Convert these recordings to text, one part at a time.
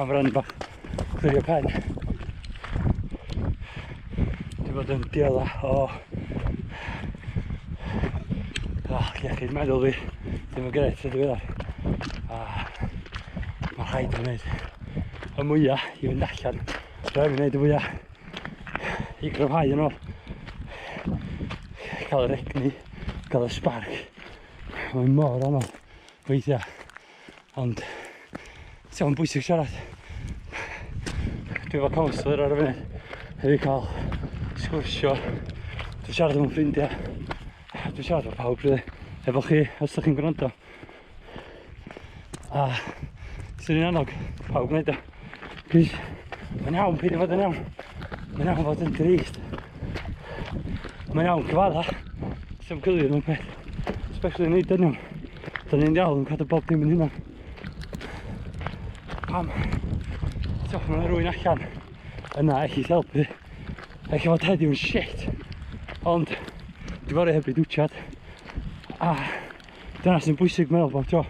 Am rhan ba, chwilio pen. Di bod yn diela o... O, iechyd meddwl fi, ddim yn gret, ydw i A mae rhaid i wneud y mwyaf i fynd allan. Rhaid i wneud y mwyaf i gryfhau yn ôl. Cael yr egni, cael y sbarc. Mae'n mor anodd weithiau. Ond, ti'n o'n bwysig siarad. Dwi efo counsellor ar y funud. Hefyd cael sgwrsio. Dwi'n siarad efo ffrindiau. Dwi'n siarad efo pawb, rydw. Efo chi, os ydych chi'n gwrando. A, sy'n un annog, pawb wneud o. Plis, mae'n iawn peidio fod yn iawn. Mae'n iawn fod yn drist. Mae'n iawn cyfadda. Sy'n gylio nhw'n peth. Especially yn ei dynion. Da ni'n iawn yn cadw bob dim yn hynna. Pam? Tiwch, mae'n rwy'n allan. Yna, eich i helpu. Eich fod heddiw'n shit. Ond, dwi'n gorau heb i dwtiad. A, Dyna sy'n bwysig meddwl bod jo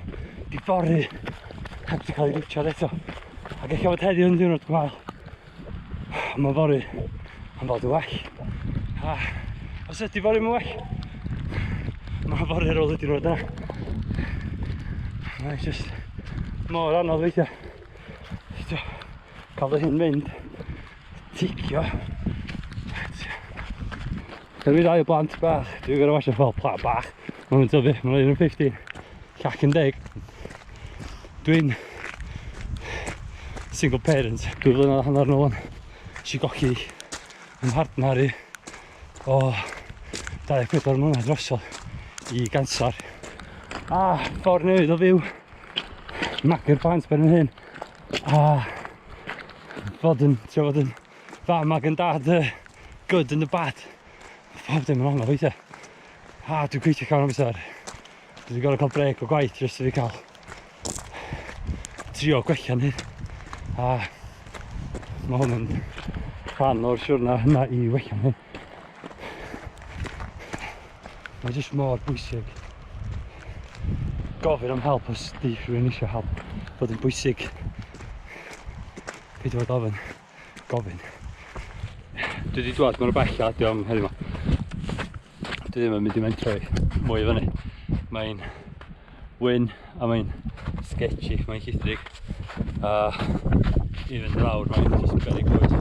di fory heb di cael ei rwtio'r eto. Ac eich bod heddiw yn ddiwrnod gwael. Mae fory yn bod yn well. A os ydy fory yn well, mae fory ar ôl y diwrnod yna. Mae'n just mor anodd weithiau. Cael fy hyn mynd. Ticio. Dwi wedi dau o blant bach, dwi'n gorau wasio fel pla bach. Mae'n mynd tyfu, mae'n rhaid yn 50, llac yn deg. Dwi'n single parent, dwi'n flynedd hanner nôl yn si gochi yn hardnar i o 24 mlynedd drosol i ganser. A ffordd newid o fyw, magu'r plant ben yn hyn, Ah, fod yn, ti'n fod yn fam ag yn dad, uh, good and the bad. Pob dim yn anodd weithiau. Ah, dwi'n gweithio cawn amser. Dwi wedi gorau cael breg o gwaith jyst i fi cael trio gwella ni. A mae hwn yn rhan o'r siwrna hynna i wella ni. Mae jyst mor bwysig gofyn am help os di rhywun eisiau help. Bod yn bwysig peidio bod ofyn, gofyn. Dwi wedi dwad, mae'n rhywbeth allan, diolch am heddiw ma. Dwi ddim yn mynd i mentro i mwy i fyny. Mae'n wyn a mae'n sketchy, mae'n llithrig. A i fynd lawr, mae'n just berig bwyd.